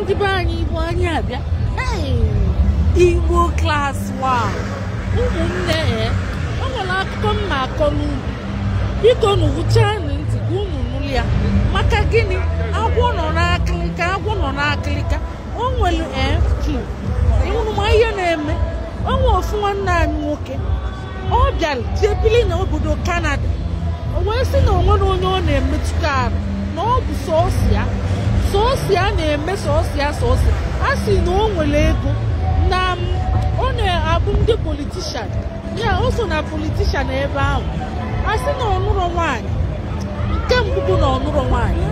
ndị be anyị igbo anyị abịa igbo klas wan ụmụnne ya o nwere akụkọ m na-akọ unu biko unu wuchaanụ ntị ka unu nụrụ ya maka gịnị agwọ nọ n'akịlịka agwọ nọ n'akịlịka o nwere ee ị hụrụ ma ihe na-eme o nwere ofu nwanne anyị nwoke ọ bịara jee bili na obodo kanada o wee sị na o nwerọ onye ọ na-emetụta arụ na ọ bụ sọọsọ ya sọọsọ ya na-eme sọọsọ ya sọọsọ a sị na o nwere ego na m ọ na-abụ ndị politishan ya o so na politishan ebe ahụ a sị na ọ nụrọ nwaanyị nke mbụ bụ na ọ nụrọ nwaanyị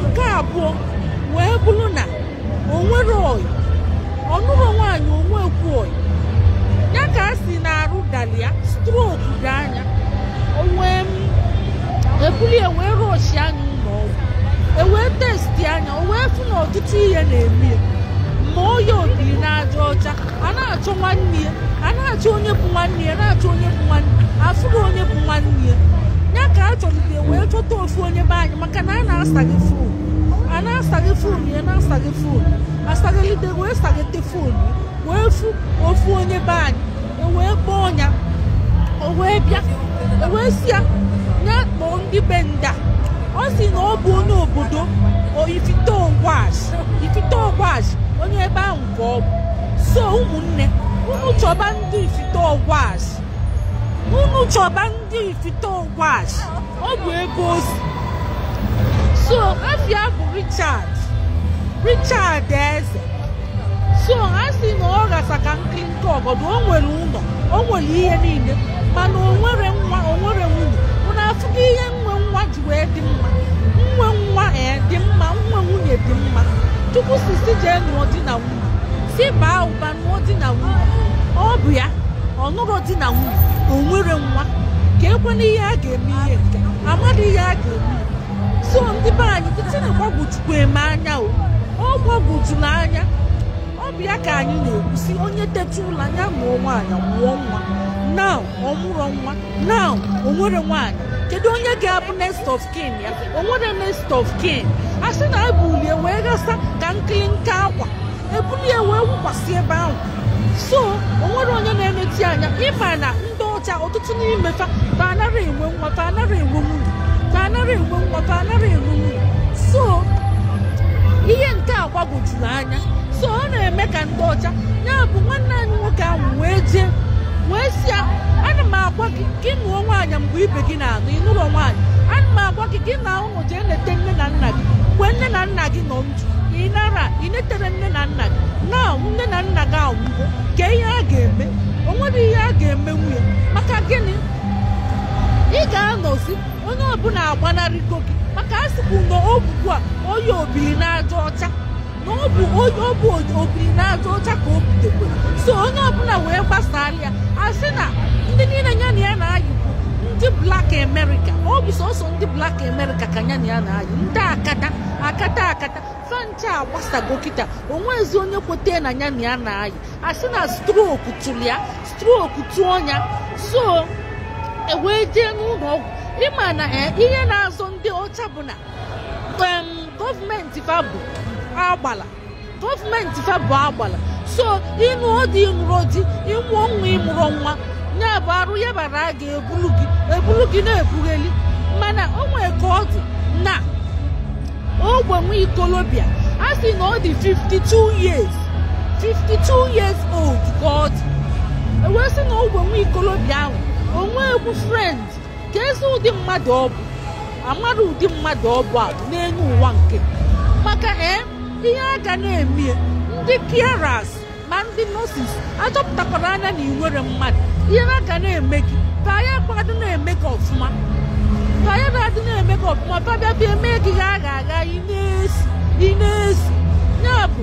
nke abụọ wee bụrụ na o nwerọ ọyị ọ nụrọ nwaanyị o nwekwurọ ọyị ya ka a sị na arụ dalị ya strok dị anya o wee m ebulie wee rọshịa ya ụlọ ọgwụ ewee testia ya o wee fụ na ọtụtụ ihe na-eme ya ma ọya obiri n'aja ọcha a na-achọ nwanne ya a na-achọ onye bụ nwanne ya na-achọ onye bụ nwanne afụrọ onye bụ nwanne ya ya ka a chọrọ wee chọta ofu onye be anyị ka na a na-asachị fon a na-asachị fon ya na-asachị fon a sachịlite wee sachịte fon wee fụ ofu onye be anyị ewee kpọọ ya o wee bịa ewee sị ya ya kpọọ ndị be nda ọ sị na ọ bụ onye obodo ifite ogwash ifite ogwash onye ebe ahụ ka ọ bụ so ụmụnne unu chọba ndị ifite ogwash unu chọba ndị ifite ogwash ọ bụ ebe o si so afa ya bụ richard richard eze so a sị na ọ ghasa ka nkịrịnka ọgọdụ o nwere ụlọ o nwere ihe niile mana o nwerọ nwa o nwerọ nwunye unu afụgo ihe inwe nwa ji wee dị mma inwe nwa ee dị mma inwe nwunye dị mma chukwu sị sị jee nụọ di na nwunye sị baa ụba ọ bụ ya ọ nụrọ di na nwunye o nwerọ nwa ka ekwe na ihe a ga-eme ihe nke amadị ihe a ga-eme so ndị be anyị kịta na-agbagwojukwu m anya o ọ gbagwojuru anya ọ bụ ya ka anyị na-ekwu sị onye teta ụla ya nụọ nwaanyị mụọ nwa na ọ mụrọ nwa na o nwerọ nwaanyị kedu onye ga-abụ next of kin ya o nwerọ next of kin a sị na ebulie wee ghasa ka nkịlịnka akwa ebulie wee wụkwasị ebe ahụ so o nwerọ onye na-eneta ya anya ị ma na ndị ọcha ọtụtụ n'ime fa fa anaghị enwe nwa fa anaghị enwe nwunye fa anaghị enwe nwa fa anaghị enwe nwunye so ihe nke a gbagwojuru anya anya so ọ na-eme ka ndị ọcha ya bụ nwanne anyị nwoke ahụ wee jee wee sị ya ana m agwa gị ka ị nụọ nwaanyị mgbe ibe gị na-anụ ị nụrọ nwaanyị ana m agwa gị ka ị naa ụlọ jee nete nne na nna gị mgbe nne na nna gị nọ ndụ ị narọ ị neterọ nne na nna gị na nne na nna gị anwụgo kee ihe a ga-eme o nwerọ ihe a ga-eme nwunye maka gịnị ị ga-anọzi onye ọbụla agbanarịgo gị maka a sịkwu na ogbugbu a onye obiri n'aja ọcha na ọ bụ onye ọ bụ obiri n'aja ọcha ka o butekwara so onye ọbụla wee gbasaara ya a sị na ndị niile ya na ya na-ayị bụ ndị blak amerịka ọ bụ sọsọ ndị blak amerịka ka ya na ya na-ayị ndị akata akata akata fa ncha agbasago kịta o nwezi onye kweta na ya na ya na-ayị a sị na stroku tụrụ ya stroku tụọ ya so e wee jee n'ụlọ ọgwụ ị ma na eh, ihe na-azọ ndị ọcha bụ na gọọmenti fa bụ agbala gọọmenti fa bụ agbala so ị nụọ di ị nụrọ di ị mụọ nwa ị mụrọ nwa ya bụ arụ ya bara a ga-ebulu gị e bulu gị na-ebugheli mana o nwere ka ọ dị na ogbe nwa ikolobịa a sị na ọ dị 52 years 52 years old ka ọ dị e wee sị na ogbe nwa ikolobịa ahụ o nwe girlfriend ka ezi ụdị mmadụ ọ bụ amara ụdị mmadụ ọ bụ abụ n'elu ụwa nke maka ee ihe a ga na-eme ndị carers ma ndị nurses achọpụtakwara anya na i nwere mmadụ ihe a ga na-eme gị fa ayakwadị na-eme gị ọfụma fa ayakwadị na-eme gị ọfụma fa abịa fa eme gị gha gha gha ị na-esi ị na-esi ya bụ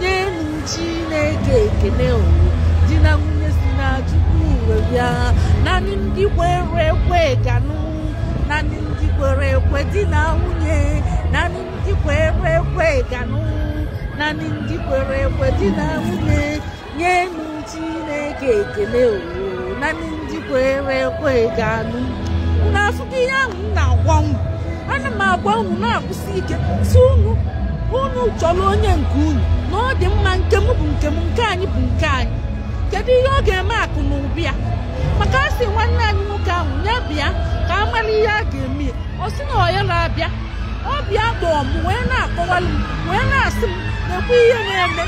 nyenụ chineke ekene o di na nwunye si na chukwu wee bịa naanị ndị kwere ekwe ga-anụ naanị ndị kwere ekwe di na nwunye naanị ndị kwere ekwe ga-anụ naanị ndị kwere ekwe di na nwunye nyenụ chineke ekele o naanị ndị kwere ekwe ga-anụ unu afụgo ihe ahụ m na-agwa unu ana m agwa unu na-akwụsị ike sị unu unu chọrọ onye nke unu na ọ dị mma nke m bụ nke m nke anyị bụ nke anyị kedu ihe ọ ga-eme akụ na ụba ya maka a sị nwanne anyị nwoke ahụ ya bịa ka a mara ihe a ga-eme ya ọ sị na ọ ya na-abịa ọ bịa kpọọ m wee na-akọwalụ m wee na-asị m na-ekwu ihe na-eme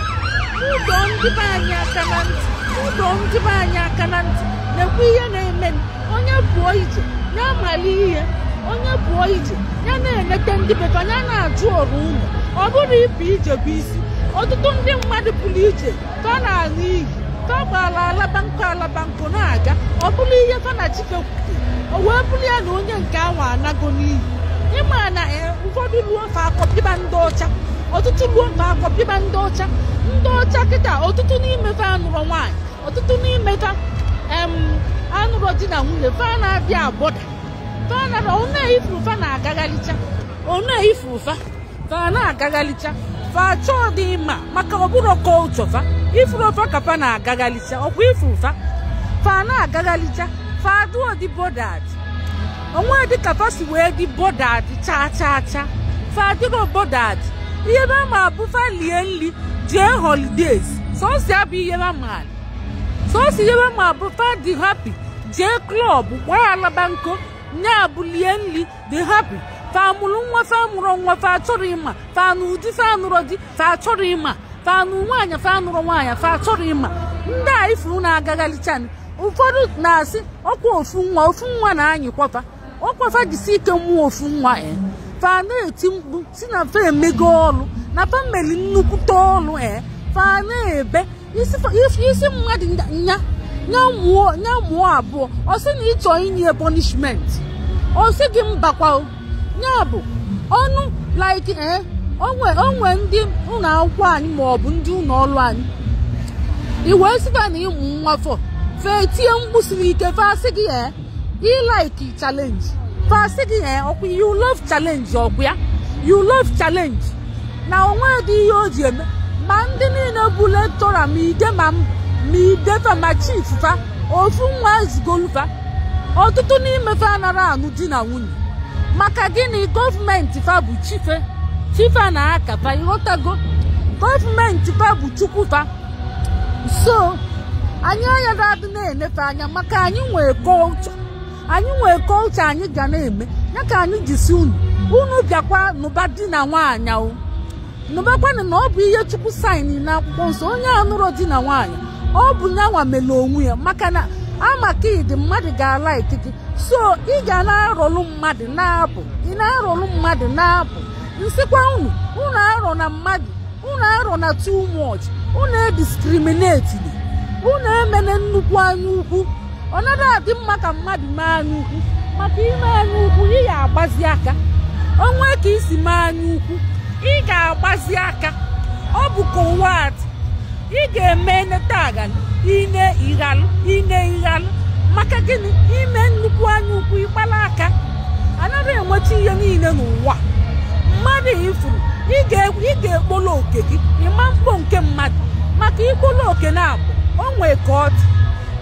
m dọọ ndị be anyị aka na ntị m dọọ ndị be anyị aka na ntị na-ekwu ihe na-eme m onye pụọ ije ya mara ihe onye pụọ ije ya na-enete ndị be fa ya na-ajụ ọrụ ụlọ ọ bụrụ ịpụ ije bụ isi ọtụtụ ndị mmadụ pụrụ ije ka ọ na-ala iyi ka ọ gbaala alaba nkụ alaba nkụ na-aga ọ bụrụ ihe fa na chike kwute o wee bụrụ ya na onye nke ahụ anago n'iyi ịma na eh, ụfọdụ ruo fa akọpịba ndị ọcha ọtụtụ ruo fa akọpịba ndị ọcha ndị ọcha kịta ọtụtụ n'ime fa anụrọ nwaanyị ọtụtụ n'ime fa em, anụrọ di na nwunye fa na-abịa abọda fa na ọ na ị fụrụ fa na-agagharịcha ọ na ị fụrụ fa fa na-agaghalicha fa achọdị ịma maka ọ bụrọ culture fa ị fụrụ fa ka fa na-agaghalicha ọkwa ị fụrụ fa fa na-agaghalicha fa adịrọdị bothered o nwedị ka fa si wee dị bothered chaa chaa chaa fa adịrọ bothered ihe fa ma bụ fa lie nri jee holidays sọsọ ya bụ ihe fa ma sọsọ ihe fa ma bụ fa dị happy jee club gbaa alaba nko nya bụ lie nri dị happy fa mụrụ nwa fa amụrọ nwa fa achọrọ ịma fa nụ di fa anụrọ di fa achọrọ ịma fa nụ nwaanyị fa anụrọ nwaanyị fa achọrọ ịma ndị a ị fụrụ na-agagharịchani ụfọdụ na-asị ọkwa ofu nwa ofu nwa na-anyịkwa fa ọkwa fa jisi ike mụọ ofu nwa e fa na-eti mkpu sị na fa emego ọrụ na fa meli nnukwute ọrụ e fa na-ebe ị sị mmadụ nya nya mụọ abụọ ọ sị na ị chọ inye punishment ọ sị gị mbakwa ya bụ ọnụ like eh, o nwe o nwe ndị ụlọ akwụkwọ anyị ma ọ bụ ndị ụlọ ọrụ anyị i wee sị fa na ị mụ nwa four fa etie mkpu siri ike fa asị gị ee eh, ị like challenge fa asị gị ee ọkwa you love challenge ọkwa ya you love challenge na o nwedị ihe o ji eme ma ndị niile bụ lecturer ma ide ma m ma ide fa ma chief fa ofu nwa ezugolu fa ọtụtụ n'ime fa anara anụ di na nwunye maka gịnị gọọmenti fa bụ chi fa chi fa na aka fa ị ghọtago gọọmenti fa bụ chukwu fa so anyị anyị aga-adị na-ene fa anya maka anyị nwee culture anyị nwee culture anyị ga na-eme ya ka anyị ji sị unu unu bịakwa nụba di na nwaanyị o nụbakwanụ na ọ bụ ihe chukwu sign na akwụkwọ nsọ onye anụrọ di na nwaanyị ọ bụ nya nwa mere onwe ya maka na a ma ka ị dị mmadụ ga-alike gị so ị ga na-arọlụ mmadụ na-abụ ị na-arọlụ mmadụ na-abụ m sịkwa unu unu arọna mmadụ unu arọna too much unu ediscriminate unu emene nnukwu anya ukwu ọ naghị adị mma ka mmadụ mee anya ukwu maka i mee anya ukwu ị ga-agbazi aka o nwe ka i si mee anya ukwu ị ga-agbazi aka ọ bụ ka ụwa atị ị ga-eme eneta aghalụ i ne ị ghalụ i ne ị ghalụ maka gịnị i mee nnukwu anya ukwu ị gbala aka anaghị enweta ihe niile n'ụwa mmadụ ị fụrụ ị ga-ekpolo oke gị ị ma-ekpo nke mmadụ maka ikpolo oke naabọ o nwee ka ọ dị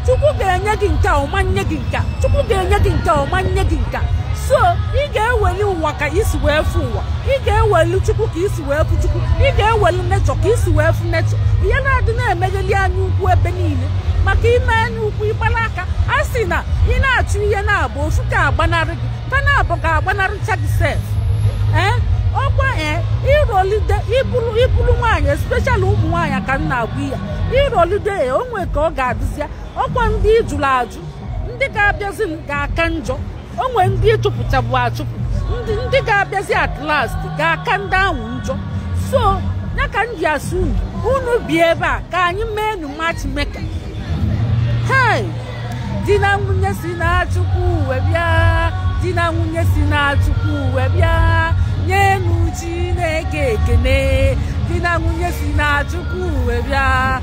chukwu ga-enye gị nke ọ ma nye gị nke chukwu ga-enye gị nke ọ ma nye gị nke so ị ga-eweli ụwa ka i si wee fụ ụwa ị ga-eweli chukwu ka i si wee fụ chukwu ị ga-eweli nature ka i si wee fụ nature ihe na-adị na-emegheli anya ukwu ebe niile maka i mee anya ukwu ị gbala aka a sị na ị na-achụ ihe naabọ ofu ga-agbanarị gị ka naabọ ga-agbanarịcha gị sef ee ọkwa ee ị rọlide ị bụrụ ị bụrụ nwaanyị especially ụmụ nwaanyị ka m na-agwa ya ị rọlide o nwee ka ọ ga-adịzịa ọkwa ndị ị jụrụ ajụ ndị ga-abịazi m ga-aka njọ o nwere ndị ị chụpụchabu achụpụ ndị ndị ga-abịazi at last ga-aka ndị ahụ njọ so ya ka m ji asị unu unu bi ebe a ka anyị mee nu matchmaker hei di na nwunye si na chukwu wee bịa di na nwunye si na chukwu wee bịa nyenụ chineke ekene di na nwunye si na chukwu wee bịa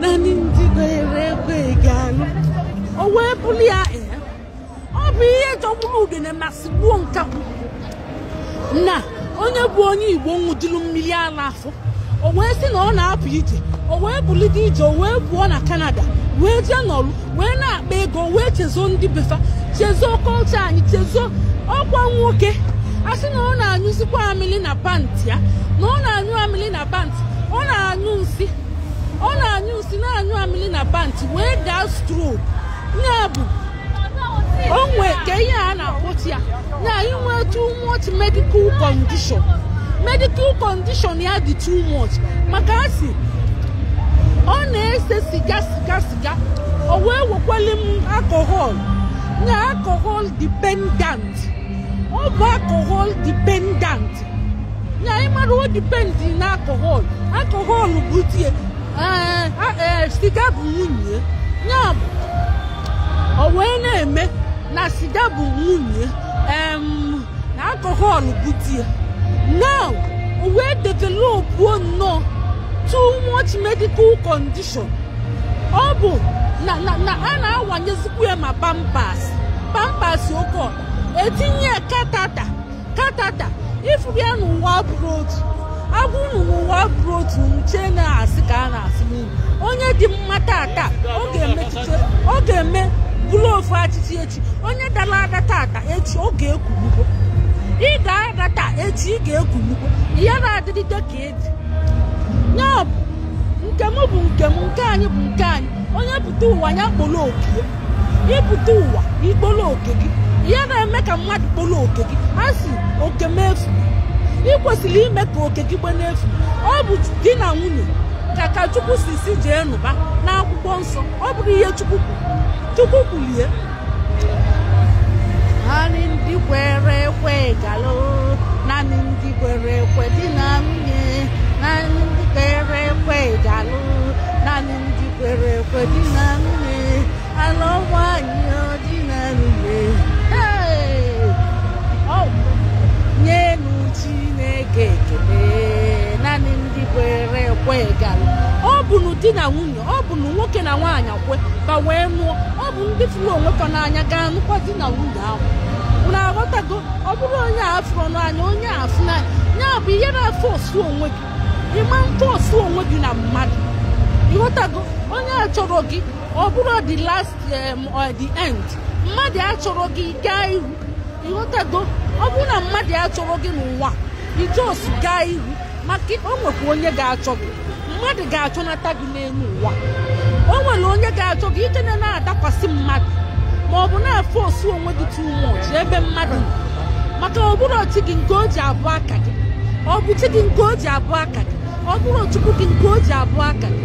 naanị ndị kwere ekwe ga-alụ o wee bụrụ ya ee ọ bụ ihe jọgburu udene ma sigbuo nkakwu na onye bụ onye igbo ṅụjuru mmiri ala afọ o wee sị na ọ na-apụ ije o wee bulite ije o wee pụọ na canada wee jee nọrụ wee na-akpa ego wee chezo ndị be fa chezo culture anyị chezo ọkwa nwoke a sị na ọ na-anyụzikwa amịlị na pantị ya na ọ na-anyụ amịlị na pantị ọ na-anyụ nsị ọ na-anyụ nsị na-anyụ amịlị na pantị wee gaa stroke ya bụ o nwee ka ihe a na-akpọchi ya ya inwe too much medical condition medical condition ya dị too much maka a sị ọ na-ese siga siga siga o wee wekwali m alcohol na alcohol dependent ọ bụ alcohol dependent anyị mara o dependi na alcohol alcohol bụ di ye ee, a- ee, siga bụ nwunye ya bụ o wee na-eme na siga bụ nwunye em, na alcohol bụ di ye now o wee developuo nnọọ too much medical condition ọ bụ na na na a na-awanyezikwu ya ma pampers pampers okay e tinye ya catheter catheter ị fụrụ ya na ụwa abụrọ otu a gwa unu na ụwa abụrọ otu unu chee na a sị ka a na-asị n'unu onye dị mma tata ọ ga-emetụta ọ ga-eme bụrụ ofu achịchị echi onye dara ada tata echi ọ ga-ekwulugbo ị ga-ada taa echi ị ga-ekwulugbo ya na-adịrịde ka ya bụ nke m bụ nke m nke anyị bụ nke anyị onye pụta ụwa ya kpolo oke ya ị pụta ụwa i kpolo oke gị ihe na-eme ka mmadụ kpolo oke gị a sị oke m efu ị kwesịrị ime ka oke gị gbe n'efu ọ bụ di na nwunye ka ka chukwu si si jee nụba n'akwụkwọ nsọ ọ bụrụ ihe chukwu kwuru chukwu kwulie Naanị ndị kwere ekwe ga-alụ naanị ndị kwere ekwe di na nwunye naanị ndị kwere ekwe ga-alụ naanị ndị kwere ekwe di na nwunye alụ nwanyị ọ di na nwunye Hey! Ọ bụ nyenu Chineke ekele naanị ndị kwere ekwe ga-alụ ọ bụ na di na nwunye ọ bụ na nwoke na nwaanyị kwekọ wee nụọ ọ bụ ndị fụrụ onwe fa n'anya ga-anụkwa di na nwunye ahụ unu aghọtago ọ bụrụ onye a fụrụ n'anya onye a fụ n'anya ya bụ ihe na-afọsụ onwe gị ị ma afọsụ onwe gị na mmadụ ị ghọtago onye achọrọ gị ọ bụrụ the last em, or the end mmadụ achọrọ gị gaa ihu ị ghọtago ọ bụrụ na mmadụ achọrọ gị n'ụwa ị just gaa ihu maka o nwekwa onye ga-achọ gị mmadụ ga-achọnata gị n'elu ụwa o nwere onye ga-achọ gị ike na na-adakwasị mmadụ ma ọ bụ na-afọsụ onwe gị too much ebe mmadụ nọ. maka ọ bụrụ chi gị nke o ji abụ aka gị ọ bụ chi gị nke o ji abụ aka gị ọ bụrụ chukwu gị nke o ji abụ aka gị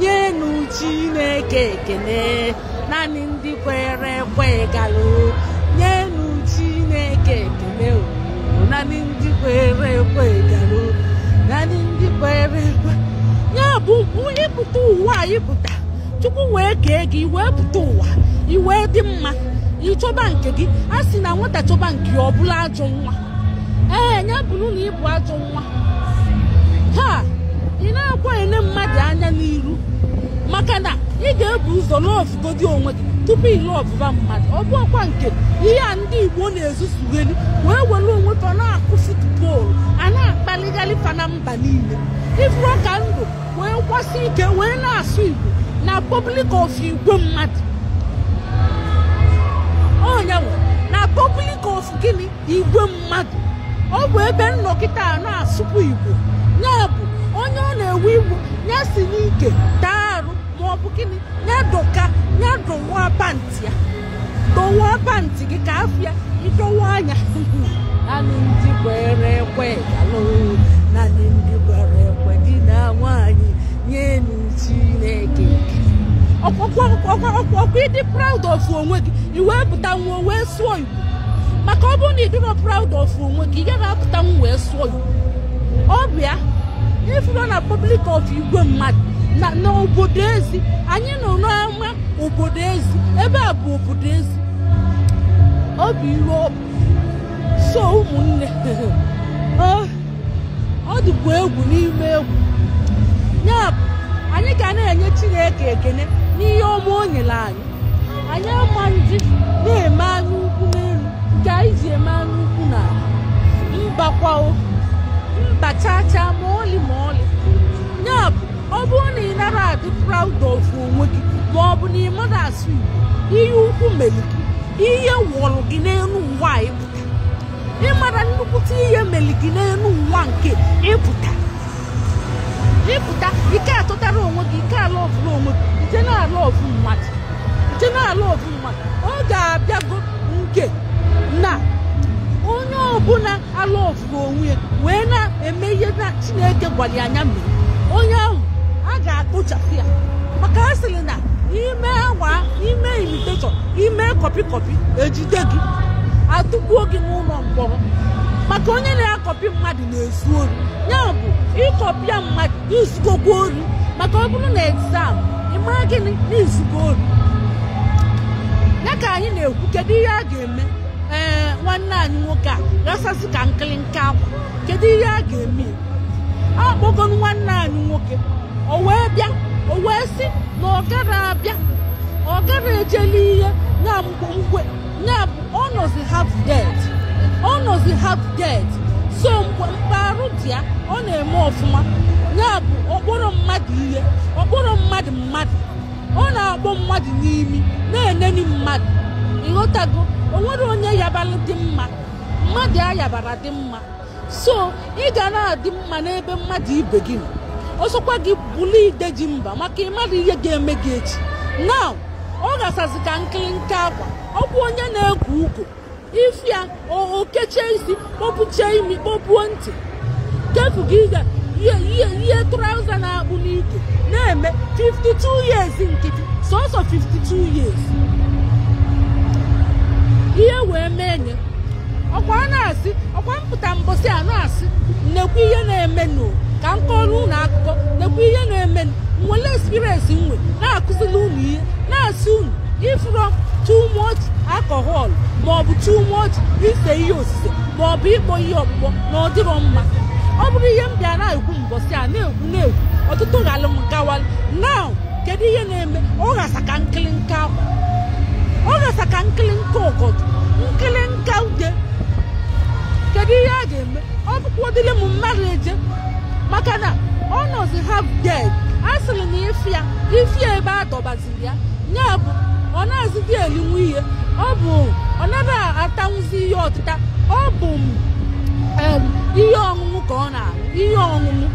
nyenụ chineke ekele naanị ndị kwere ekwe ga-alụ nyenụ chineke ekele o naanị ndị kwere ekwe ga-alụ naanị ndị kwere ekwe ya bụ ị pụta ụwa a ị pụta chukwu wee kee gị i wee pụta ụwa i wee dị mma ị chọba nke gị a sị na nwata chọba nke ya ọ bụrụ ajọ nwa ee ya bụrụ na ị bụ ajọ nwa ha ị na-akwa ene mmadụ anya n'iru maka na ị ga-ebu ụzọ lọvụgodi onwe gị tupu ị lọvụba mmadụ ọ bụ ọkwa nke ihe a ndị igbo na-ezuzugheli wee were onwe fa na-akụ futbọọlụ a na-akpaligharị fa na mba niile ị fụrụ ka m dụ wee kwụsị ike wee na-asụ igbo na pọblik of igwe mmadụ onyanwụ na pọblik of gịnị igwe mmadụ ọ bụ ebe m nọ kịtaa na-asụpụ igbo ya bụ onye ọ na-ewe iwe ya si n'ike taa arụ ma ọ bụ gịnị ya dọka ya dọwa pantị ya dọwa pantị gị ka afịa ịdọwa anya nanị ndị kwere ekwe ga-alụ nanị ndị kwere ekwe di na nwaanyị nyenu chineke ọkwa ị dị proud of onwe gị i wee pụta nwa wee sụọ igbo maka ọ bụrụ na ị dịrọ proud of onwe gị ị gaghị apụta wee sụọ Igbo a ị fụrọ na public of igwe mmadụ na obodo ezi anyị nọ n'ama obodo ezi ebe a bụ obodo ezi ọ bụ ihe ọ bụ so ụmụnne ọ dịkwa egwu n'ime egwu ya bụ anyị ga na-enye chineke ekene n'ihe ọma o nyere anyị anyị ama ndị na-eme anya ukwu n'elu nke anyị ji eme anya ukwu na mbakwa o mba chaa chaa ma ọlị ma ọlị ya bụ ọ bụrụ na ị narọ adị proud of onwe gị ma ọ bụ na ị marọ asụ Igbo ihe ukwu mere gị ihe wụrụ gị n'elu ụwa a ịpụta ịmara nnukwute ihe mere gị n'elu ụwa nke ịpụta ịpụta ị ka atụtarọ onwe gị ị ka alọvụrọ onwe gị i je na-alọvụ mmadụ i je na-alọvụ mmadụ ọ ga-abịago nke na onye ọbụla alọvụrọ onwe ya wee na-eme ihe na chineke gwara ya ya mere onye ahụ a ga-akpochapụ ya maka a sịrị na ime awa ime imitation ime kọpị kọpị ejide gị atụkpọọ gị n'ụlọ mkpọrọ maka onye na-akọpị mmadụ na-ezu ori ya bụ ị kọpịa mmadụ i zugokwa ori maka ọ bụrụ na exam ị ma gịnị na i zugo ori ya ka anyị na-ekwu kedu ihe a ga-eme ee nwanne anyị nwoke a ghasasị ka nkịlịnka akwa kedu ihe a ga-eme a kpọgonụ nwanne anyị nwoke o wee bịa o wee sị na ọ gara abịa ọ gara ejeli ihe na mgbe mgbe ya bụ ọ nọzi half dead ọ nọzi half dead so mgbe mgbe arụ dị ya ọ na-eme ọfụma ya bụ ọ kpọrọ mmadụ ihe ọ kpọrọ mmadụ mmadụ ọ na-akpọ mmadụ n'imi na-eneni mmadụ ị ghọtago o nwere onye yabara dị mma mmadụ ayabara dị mma so ị ga na-adị mma n'ebe mmadụ ibe gị nọ ọ sọkwa gị bụlụ ide ji mba maka ị madụ ihe ga-eme gị echi now ọ ghasazi ka nkịlịnka akwa ọ bụ onye na-egwu ugo ị fụ ya o kechie isi kpọpụchie imi kpọpuo ntị kefu gị ga ihe ihe ihe trauza na-akpụ n'ike na-eme 52 years nkịtị sọsọ 52 years ihe wee mee nye ọkwa a na-asị ọkwa m pụta mbọsị a na-asị nnekwu ihe na-emenụ ka m kọrọ unu akụkọ nnekwu ihe na-emenụ m nwere experience m wee na-akụziri unu ihe na-asị unu ị fụrọ too much alcohol maọbụ too much ise ihe osise maọbụ ịkpọ ihe ọkpụkpọ na ọ dịrọ mma ọ bụrụ ihe m bịa na-ekwu mbọsị a na-ekwu na-ekwu ọtụtụ ghalụ m gawalụ now kedu ihe na-eme ọ ghasa ka nkịlịnka akwa ọ ghasa ka nkịlịnka ọgọdụ nkịlịnka uwe kedu ihe a ga-eme ọ bụkwadịrị m mmadụ eje maka na ọ nọzi half dead a sịrị na ife ya ife ya ebe a dọbaziri ya ya bụ ọ nazịdị elinwu ihe ọ bụ ọ naghị atanwụzi ihe ọtịta ọ bụ em, ihe ọṅụṅụ ka ọ na ihe ọṅụṅụ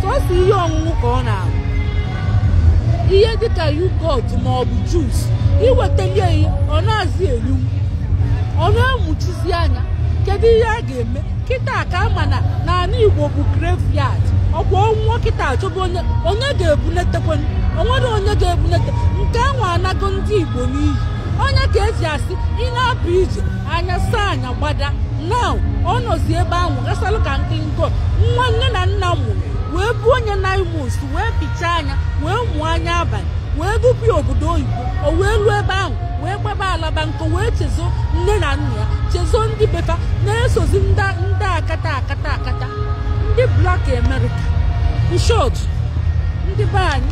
sọsọ ihe ọṅụṅụ ka ọ na-aṅụ ihe dịka yogurt ma ọ bụ juice iwetalie ya ọ nazị eli ọ na-emuchizi anya kedu ihe a ga-eme kịta ka a ma na n'ala igbo bụ graveyard ọ kwa ọ nwụọ kịta a chọba onye onye ga-ebunetekwe o nwere onye ga-ebunete nke ahụ anago ndị igbo n'iyi onye ka e ji asị ị na-apụ ije anya saa anya gbada na ọ nọzi ebe ahụ ghasalụ ka nkịnkọ nwa nne na nna mụrụ wee buo onye nine months wee pichaa anya wee mụọ anya abalị wee dupụ ya obodo oyibo o wee ruo ebe ahụ wee gbaba alaba nkọ wee chezo nne na nna ya chezo ndị be fa na-esozi ndị akata akata akata ndị black america in short ndị be anyị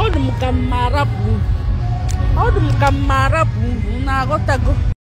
ọ dị m ka m ma-arapụ unu ọ dị m ka m ma-arapụ unu na-aghọtago